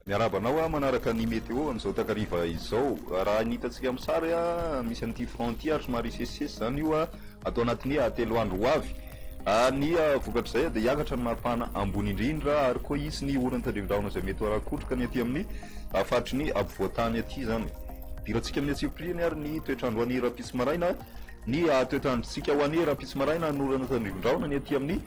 Miarahaba anao a manaraka ny météo amin'izao takariva izao. Raha ny hitantsika amin'ny sary a, misy an'ity front ity ary somary hisesisesy izany io a. atao anatin'ny telo andro ho avy. Ny vokatr'izay dia hiakatra ny maripana ambony indrindra ary koa hisy ny oron'ny tandrevin-drahona izay mety ho ara-kotroka ny aty amin'ny faritry ny ampovoan-tany aty izany. Idirantsika amin'ny antsipiriany ary ny toetr'andro ho an'ny rahampitso maraina. Ny toetr'androntsika ho an'ny rahampitso maraina, ny oron'ny tandrevin-drahona ny aty amin'ny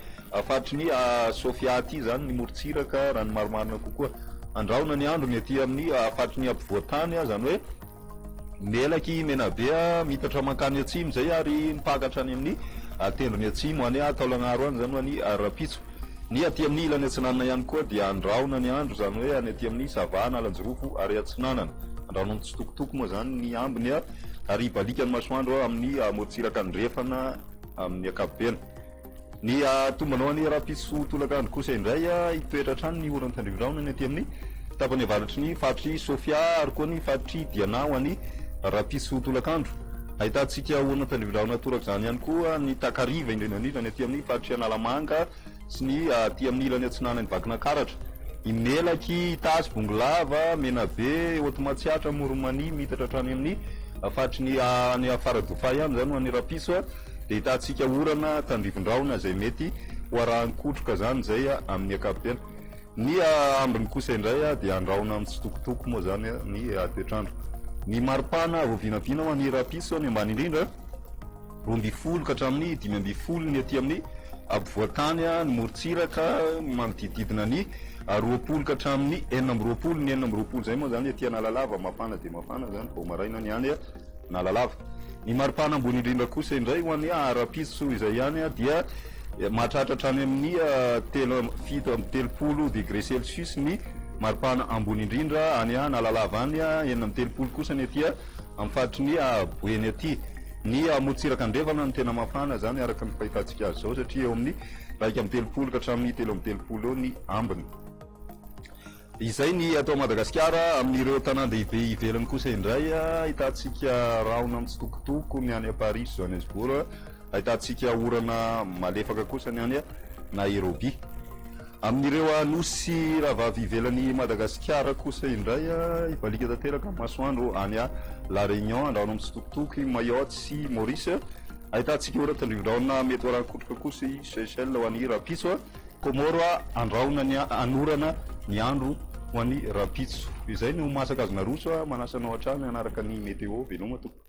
faritry ny Sofia aty izany, ny morontsiraka raha ny marimarina kokoa. Andrahona ny andro ny aty amin'ny faritry ny ampovoan-tany, izany hoe Melaky i Menabe a, mitatra mankany atsimo zay ary mipakatra any amin'ny tendrony atsimo any a, Taolagnaro any zany ho any Rampitso. Ny aty amin'ny ilany atsinanana ihany koa dia andrahona ny andro, zany hoe any aty amin'ny Sava, Analanjirofo ary atsinanana. Andrahona mitsitokotoko moa zany ny ambiny a, ary ibalikan'ny masoandro amin'ny morontsiraka andrefana amin'ny ankapobeny. Ny ahatombanao an'i Rahampitso tolakandro kosa indray, hitoetra hatrany ny oran'i Tandriviraona ny aty amin'ny tapany avaratry ny faritr'i Sofia ary koa ny faritr'i Diana ho an'i Rahampitso tolakandro. Ahitantsika oran'i Tandriviraona torak'izany ihany koa ny takariva indrindra indrindra ny aty amin'ny faritr'i Analamanga sy ny aty amin'ny ilany atsinanan'i Vakinankaratra. Imelaky, Itasy, Bongolava, Menabe, Haute Matsiatra, Amoron'i Mania, miitatra hatrany amin'ny faritry ny any Faradofay any izany ho an'i Rahampitso. Dia hitantsika orana tandrivon-drahona izay mety ho arahan-kotroka izany izay amin'ny ankapobeny. Ny ambiny kosa indray dia handrahona mitsitokotoko moa izany ny toetr'andro. Ny maripana vao vinavina ho an'ny rahampitso ny ambany indrindra, roa ambin'ny folo ka hatramin'ny dimy ambin'ny folo ny aty amin'ny ampovoan-tany, ny morontsiraka manodidididina ny roapolo ka hatramin'ny enina amby roapolo, ny enina amby roapolo izay moa izany aty Analalava, mafana dia mafana izany vao maraina ny any. na lalava. Ny maripana ambony indrindra kosa indray ho an'ny ara-pitso izay ihany dia mahatratra hatrany amin'ny telo amby fito amby telopolo degré celsius ny maripana ambony indrindra any na lalava any, enina amby telopolo kosa ny aty amin'ny faritry ny Boeny aty. Ny morontsiraka andrefana no tena mafana izany araka ny fahitantsika azy izao satria eo amin'ny iraika amby telopolo ka hatramin'ny telo amby telopolo eo ny ambiny. Izay ny ato Madagasikara. Amin'ireo tanàn-dehibe ivelany kosa indray, ahitantsika rahona mitsitokotoko ny any Paris sy Johannesburg, ahitantsika orana malefaka kosa ny any Nairobi. Amin'ireo nosy rahavavy ivelan'i Madagasikara kosa indray, hibaliaka tanteraka ny masoandro any La Réunion, andrahona mitsitokotoko i Mayotte sy Maurice, ahitantsika orana tandrivindrahona mety ho arahan-kotroka kosa i Seychelles ho an'i rahampitso. Comore a andrahona ny anorana ny andro ho any rampitso izay ny ho masaka azo naroso a manasa anao hatrany hanaraka ny meteo veloma tompoko.